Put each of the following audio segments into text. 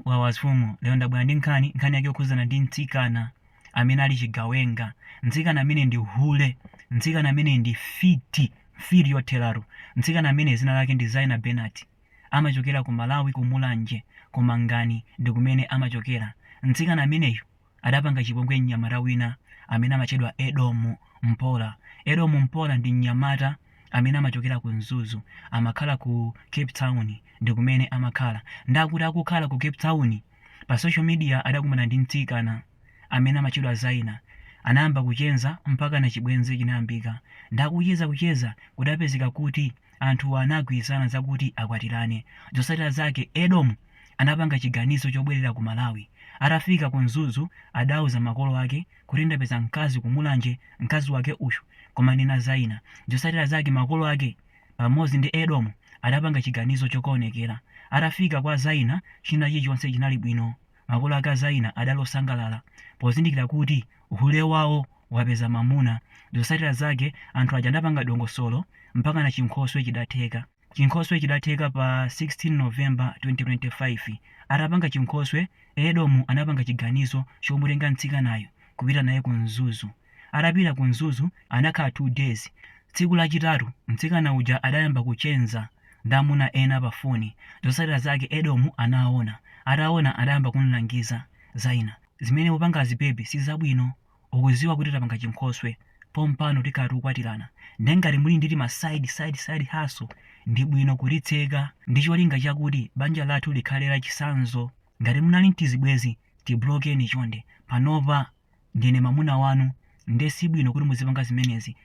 Wawa mfumu lero ndabwera ndi nkhani, nkhani yake yokhudzana ndi mtsikana amene ali chigawenga, mtsikana amene ndi hule, mtsikana amene ndi mfiti, mfiti yotheratu. Mtsikana amene dzina lake ndi Zaina Benati, amachokera ku Malawi ku Mulanje, ku Mangani ndi kumene amachokera. Mtsikana ameneyu adapanga chipongwe mnyamata wina amene amatchedwa Edomu Mpola. Edomu Mpola ndi mnyamata amene amachokera ku Mzuzu, amakhala ku Cape Town ndi kumene amakhala. Ndakuti akukhala ku Cape Town, pa social media adakumana ndi mtsikana amene amatchedwa Zaina. Anayamba kucheza mpakana chibwenzi chinayambika. Ndakucheza kucheza kudapezeka kuti anthuwa anagwirizana zakuti akwatirane. Zotsatira zake, Edomu anapanga chiganizo chobwerera ku Malawi. Atafika ku Mzuzu adauza makolo ake kuti ndapeza mkazi ku Mulanje, mkazi wake uyu, koma ndi Zaina. Zotsatira zake makolo ake pamodzi ndi Edomu adapanga chiganizo chokaonekera. Atafika kwa Zaina china chilichonse chinali bwino. Makolo ake a Zaina adali osangalala pozindikira kuti hule wawo wapeza mamuna. Zotsatira zake anthu aja adapanga dongosolo mpakana chinkhoswe chidatheka. Chinkhoswe chidatheka pa 16 November 2025. Atapanga chinkhoswe, Edomu anapanga chiganizo chomutenga mtsikanayu kupita naye ku Mzuzu. Atapita ku Mzuzu anakhala 2 days. Tsiku lachitatu mtsikana uja adayamba kucheza. ndi amuna ena pa foni. Zotsatira zake Edomu anaona. Ataona adayamba kumulangiza, Zaina, zimene ukupangazi baby si zabwino. Ukudziwa kuti tapanga chinkhoswe. Pompano tikhala tikukwatirana. Ndiye ngati muli ndi tima side, side, side hustle, ndi bwino kutitseka ndi cholinga chakuti banja lathu likhale lachitsanzo. Ngati munali n'tizibwenzi, tiblokeni chonde. Panopa ndine mamuna wanu nde sibwino kuti muzipanga zimenezi.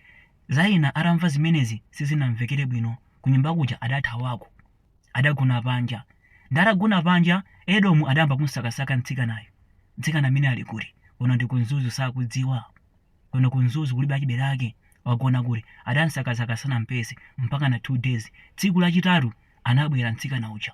Zaina atamva zimenezi sizinamvekere bwino kunyumba kuja adathawako. Adagona panja. Nde atagona panja, Edomu adayamba kumsakasaka mtsikanayo. Mtsikana ameneyu ali kuti? Kuno ndi ku Mzuzu sakudziwa. Kuno ku Mzuzu kulibe achibale ake. Wagona kuti? Adamsakasaka sanampeze mpaka na 2 days. Tsiku lachitatu anabwera mtsikana uja.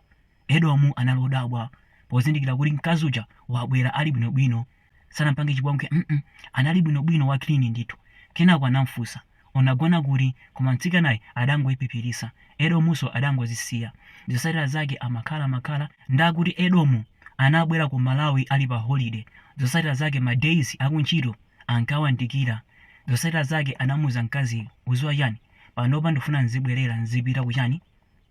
Edomu anali odabwa pozindikira kuti mkazi uja wabwera ali bwinobwino, sanampange chipongwe mm anali bwinobwino wa clean ndithu. Kenako anamfunsa, unagona kuti? Koma mtsikanayu adangoiphiphiritsa. Edomunso adangozisiya. Zotsatira zake amakhalakhala ndakuti Edomu anabwera ku Malawi ali pa holiday. Zotsatira zake ma days akuntchito ankawandikira. Zotsatira zake anamuuza mkaziyu, udziwa chani? Panopa ndufuna nzibwerera nzipita kuchani?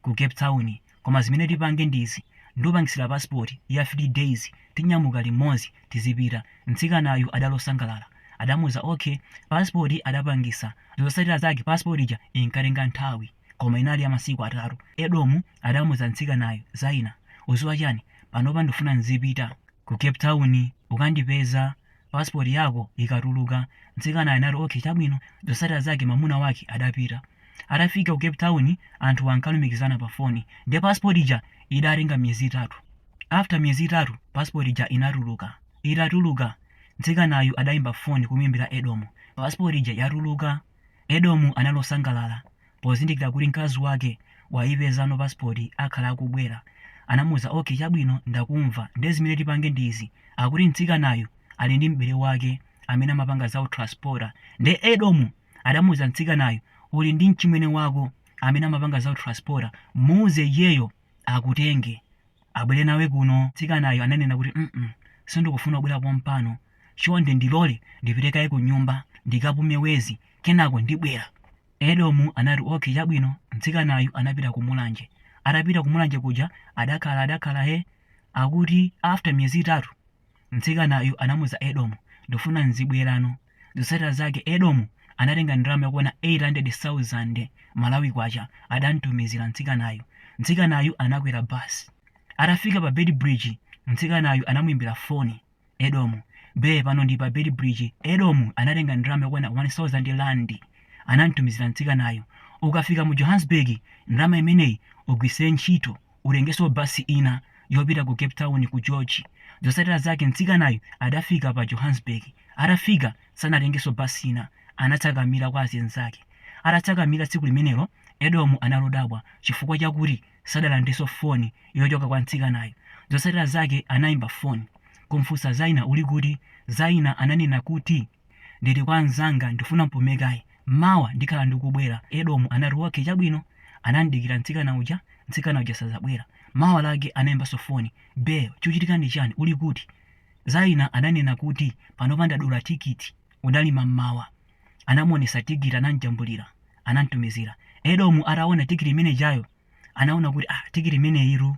ku cape town koma zimene tipange ndi izi ndikupangisira passport ya 3 days tinyamuka limodzi tizipita mtsikanayu adali osangalala adamuuza ok passport adapangisa zotsatira zake passport ija inkatenga nthawi koma inali ya masiku atatu edomu adamuuza mtsikanayu zaina uziwa chani panopa ndifuna nzipita ku cape town ukandipeza passport yako ikatuluka mtsikanayo anati okay chabwino zotsatira zake mamuna wake adapita atafika ku cape town anthu ankalumikizana pa foni nde passport ija idatenga miyezi itatu after miyezi itatu passport ija inatuluka itatuluka mtsikanayu adayimba foni kumuyimbira edomu pasipoti ija yatuluka edomu anali osangalala pozindikira kuti mkazi wake wayipezano passport akhala akubwera anamuuza ok chabwino ndakumva nde zimene tipange ndi izi akuti mtsikanayu ali ndi m'bale wake amene amapanga za utranspota nde edomu adamuuza mtsikanayu uli ndi mchimwene wako amene amapanga za utranspota muuze iyeyo akutenge abwere nawe kuno mtsikanayo ananena kuti mm sindikufuna kubwera pompano chonde ndilole ndipite kaye ku nyumba ndikapume mwezi kenako ndibwera Edomu anati, Ok, chabwino, mtsikanayu anapita ku Mulanje. Atapita ku Mulanje kuja, adakhala, adakhala, he, akuti after miyezi itatu, mtsikanayu anamuuza Edomu, ndifuna nzibwerano. Zotsatira zake, Edomu anatenga ndalama yokwana 800,000 Malawi Kwacha, adamtumizira mtsikanayu. Mtsikanayu anakwera bus. Atafika pa Beitbridge, mtsikanayu anamuimbira foni. Edomu, Be pano ndi pa Beitbridge, Edomu anatenga ndalama yokwana 1000 Rand anamtumizira mtsikanayu, ukafika mu Johannesburg ndalama imeneyi ugwiritse ntchito utengenso bus ina yopita ku Cape Town ku George. Zotsatira zake mtsikanayu adafika pa Johannesburg. Atafika sanatengenso bus ina, anatsakamira kwa azinzake. Atatsakamira tsiku limenelo Edomu analodabwa chifukwa chakuti. sadalandirenso foni yochokera kwa mtsikanayo. Zotsatira zake anaimba foni kumfunsa Zaina uli kuti? Zaina ananena kuti ndili kwa mzanga ndifuna mpume kaye. Mawa ndikhala ndikubwera. Edomu anati okay chabwino. Anamdikira mtsikana uja, mtsikana uja sadabwere. Mawa lake anaimbanso foni. Bae chikuchitika ndi chani uli kuti? Zaina ananena kuti panopa ndadula tikiti. Unali mammawa. anamuonesa tikiti anamjambulira anamtumizira edomu ataona tikiti imene ijayo anaona kuti ah, tikiti imeneyitu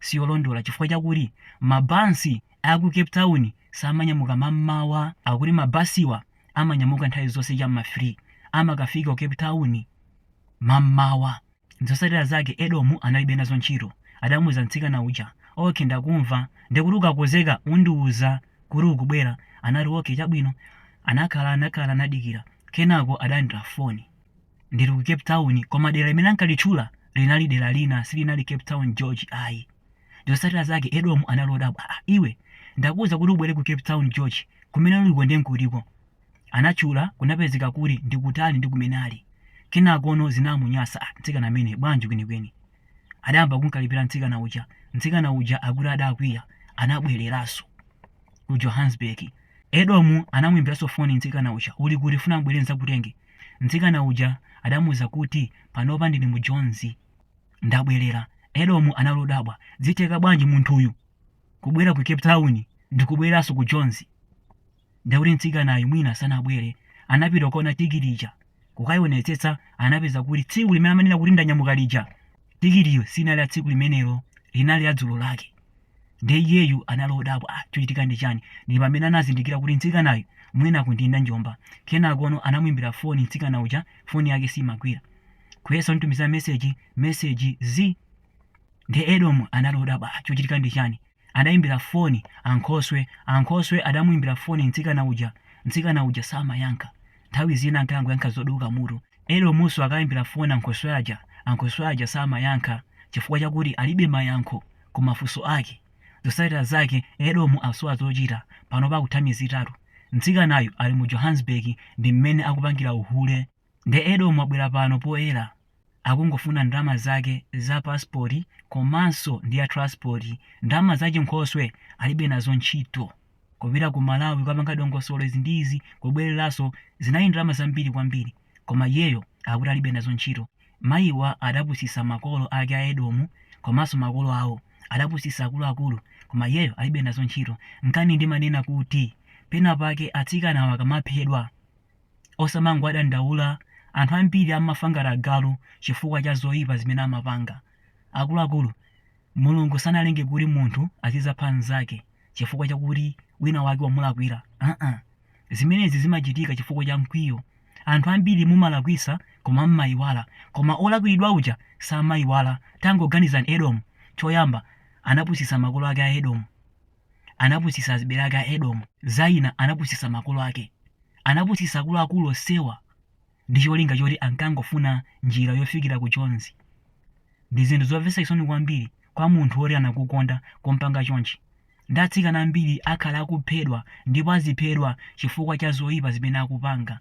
siyolondola chifukwa chakuti mabasi aku cape town samanyamuka mammawa akuti mabasiwa amanyamuka nthawi zonse cha m'ma 3 amakafika ku cape town mammawa Zotsatira zake Edomu analibe nazo ntchito. Adamuuza mtsikana uja, Ok, ndakumva, ndekuti ukakonzeka undiuza kuti ukubwera. Anati, Ok, chabwino. Anakhala, anakhala, anadikira. Kenako adalandira foni. Ndili ku Cape Town, koma dera limene ankalitchula linali dera lina, silinali Cape Town, George, ayi. Zotsatira zake Edomu anali odabwa, Aa, iwe, ndakuuza kuti ubwere ku Cape Town, George, kumene uliko nde nkutiko? anatchula kunapezeka kuti ndi kutali ndi kumene ali. Kenakono zinamunyasa, ah mtsikana ameneyi bwanji kwenikweni. Adayamba kumkalipira mtsikana uja. Mtsikana uja akuti adakwiya, anabwereranso ku Johannesburg. Edomu anamuimbiranso foni mtsikana uja, uli kuti ndifuna mbwere nzakutenge. Mtsikana uja adamuza kuti panopa ndili mu Jonzi, ndabwerera. Edomu anali odabwa, zitheka bwanji munthuyu kubwera ku Cape Town ndikubwereranso ku Jonzi? ndiye kuti mtsikanayu mwina sanabwere anapita kukaona tikiti ija kukaionetsetsa anapeza kuti tsiku limene amanena kuti ndanyamuka lija tikitiyo sinali ya tsiku limenelo linali ya dzulo lake ndiye iyeyu anali odabwa "Ah, chochitika ndi chani ndi pamene anazindikira kuti mtsikanayu mwina akundinda njomba kenakono anamuimbira foni mtsikana uja foni yake simagwira kuyesa kumtumiza meseji meseji z ndiye edomu anali odabwa "Ah, chochitika ndi chani Adaimbira foni ankhoswe. Ankhoswe adamuimbira foni mtsikana uja. Mtsikana uja samayankha. Nthawi zina ankangoyankha zoduka mutu. Edomunso akaimbira foni ankhoswe aja, ankhoswe aja samayankha chifukwa chakuti alibe mayankho ku mafunso ake. Zotsatira zake, Edomu asowa zochita. Panopa kutha miyezi itatu mtsikanayu ali mu Johannesburg ndi mmene akupangira uhule. Nde Edomu abwera pano poyera akungofuna ndalama zake za passport komanso ndi ya transport. Ndalama za chinkhoswe alibe nazo ntchito. Kupita ku Malawi kukapanga dongosolo izi ndi izi kubwereranso zinali ndalama zambiri kwambiri koma iyeyo akuti alibe nazo ntchito. Mayiwa adapusitsa makolo ake a Edomu komanso makolo awo. Adapusitsa akuluakulu koma iyeyo alibe nazo ntchito. Nkani ndimanena kuti pena pake atsikanawa akamaphedwa Osamangowadandaula, anthu ambiri amafa ngati agalu chifukwa cha zoipa zimene amapanga. Akuluakulu, Mulungu sanalenge kuti munthu azidzapha mnzake chifukwa chakuti winawake wamulakwira. Aa! Zimenezi zimachitika chifukwa cha mkwiyo. Anthu ambiri mumalakwitsa koma mmaiwala, koma wolakwiridwa uja samaiwala. Tangoganizani Edomu, choyamba anapusitsa makolo ake a Edomu. anapusitsa azibale ake a Edomu, Zaina anapusitsa makolo ake, anapusitsa akuluakulu onsewa ndi cholinga choti ankangofuna njira yofikira ku Jonzi. Ndi zinthu zomvetsa chisoni kwambiri kwa munthu woti anakukonda kumpanga chonchi. Ndi atsikana ambiri akhala akuphedwa ndipo aziphedwa chifukwa cha zoipa zimene akupanga.